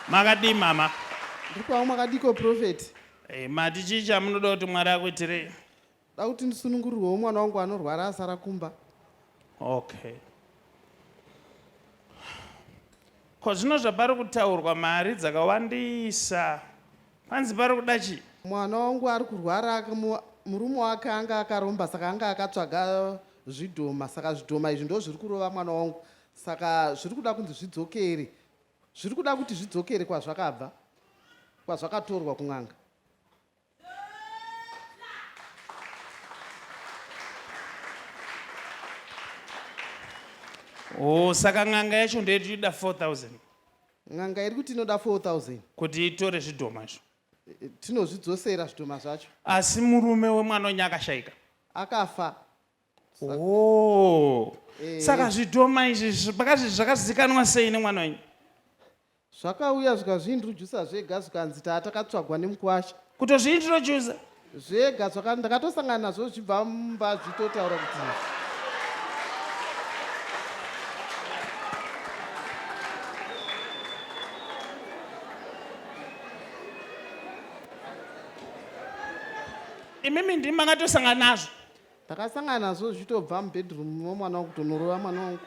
makadii mama ndikwawo makadiko profeti hey, eh, mati chii chamunoda kuti mwari akuitirei da kuti ndisunungurirwewo mwana wangu anorwara asara kumba okay ko zvino zvapari kutaurwa mari dzakawandisa panzi pari kuda chii mwana wangu ari kurwara murume wake anga akaromba saka anga akatsvaga zvidhoma saka zvidhoma izvi ndo zviri kurova mwana wangu saka zviri kuda kunzi zvidzokere zviri kuda kuti zvidzokere kwazvakabva kwazvakatorwa kun'anga oh saka n'anga yacho ndoyetinoda 4000 n'anga iri kuti inoda 4000 kuti itore zvidhoma izvo eh, tinozvidzosera zvidhoma zvacho asi murume wemwana wenye akashaika akafa Oh. Eh. Saka zvidhoma izvi zvakazvi zvakazikanwa sei nemwana wenyu? Zvakauya zvikazviintroducer zvega zvikanzi taa takatsvagwa nemukwasha. Kutozviintroducer? Zvega zvaka ndakatosangana nazvo zvibva mumba zvitotaura kuti imimi ndimi makatosangana nazvo Ndakasangana nazvo zvichitobva mubedroom momwana wangu kutonorova mwana wangu.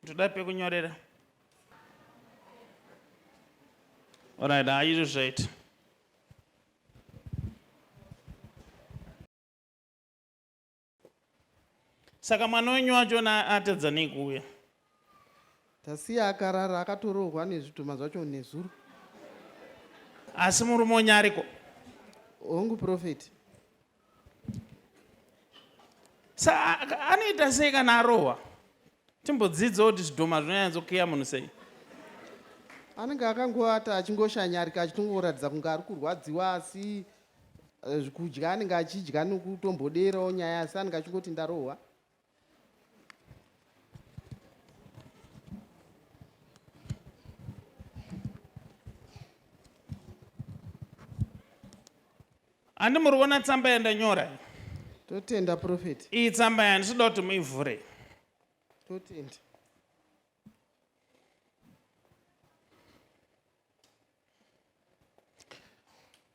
Ndoda pekunyorera. Alright, haa izvo zvaita. Saka mwana wenyu wacho atadza nei kuuya? Tasiya akarara akatorohwa nezvidhoma zvacho nezuro. Asi murume wenyu ariko? Hongu prophet. Sa anoita sei kana arohwa? Timbodzidzawo kuti zvidhoma zvinonyatsokiya munhu sei? Anenge akangoata achingoshanyarika achitongoratidza kunge ari kurwadziwa asi eh, kudya anenge achidya nokutomboderawo nyaya asi anenge achingoti ndarohwa. handi muri kuona tsamba yandanyora totenda profeti iyi tsamba yani sida kuti muivhure totenda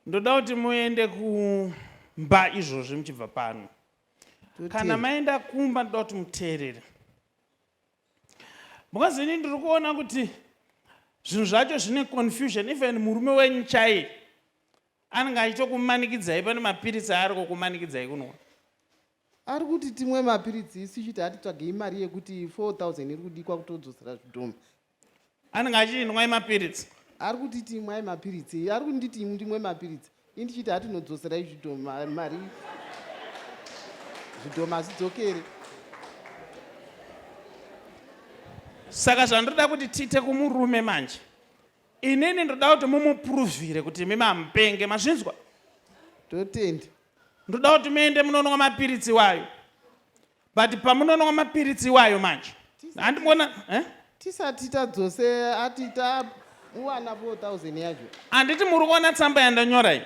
ndoda kuti muende kumba izvozvi muchibva pano kana maenda kumba ndoda kuti muteerere because ini ndiri kuona kuti zvinhu zvacho zvine confusion even murume wenyu chaiye anenge achitokumanikidzai pane mapiritsi aari kukumanikidzai kunwa ari kuti timwe mapiritsi isu chiti atitsvagei mari yekuti 4000 iri kudikwa kutodzosera zvidhoma anenge achiti ndimwai mapiritsi ari kutiti imwai mapiritsi ari kunditi ndimwe mapiritsi i ndichiti hatinodzosera izvidhoma mari zvidhoma hazidzokere saka zvandoda kuti tiite kumurume manje inini ndoda kuti mumupuruvhire kuti imi mamupenge mazvinzwa totenda ndoda kuti muende munonwa mapiritsi iwayo but pamunonwa mapiritsi iwayo manje handimona eh? tisati tadzose ati tauwana 4000 yacho handiti muri kuona tsamba yandanyora iyi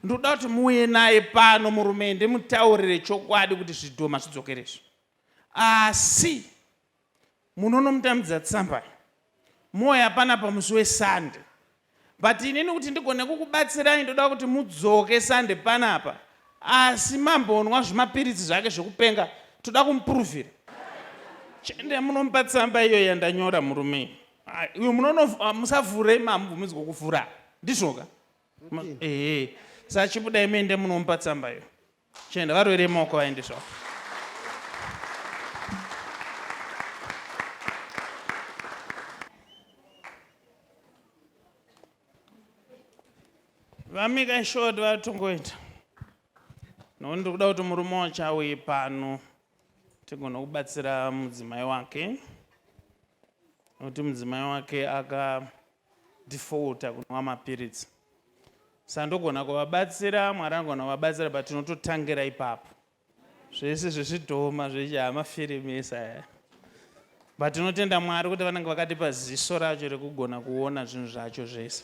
ndoda kuti muuye naye pano murume ndimutaurire chokwadi kuti zvidhoma zvidzokeresvi asi munonomutambidza tsamba moya panapa musi wesunday but inini kuti ndigone kukubatsirai ndoda kuti mudzoke sunday panapa asi mambonwa zvimapiritsi zvake zvekupenga toda kumupuruvhira chende munomupa tsamba iyo yandanyora murume uyo ah, musavhure mambo muzi kukuvhura ndizvoka ehe sachibuda imende munomupa tsamba iyo Chenda varwere moko vaendeswa. Vamika short vatongoita. No ndiri kuda kuti murume wacho auye pano tigona kubatsira mudzimai wake. Nokuti mudzimai wake aka defaulter kunwa mapiritsi sa ndogona kuvabatsira mwari anogona kuvabatsira but tinototangira ipapo zvese zvezvidhoma zvechiamafirimisa aya but tinotenda mwari kuti vanenge vakatipa ziso racho rekugona kuona zvinhu zvacho zvese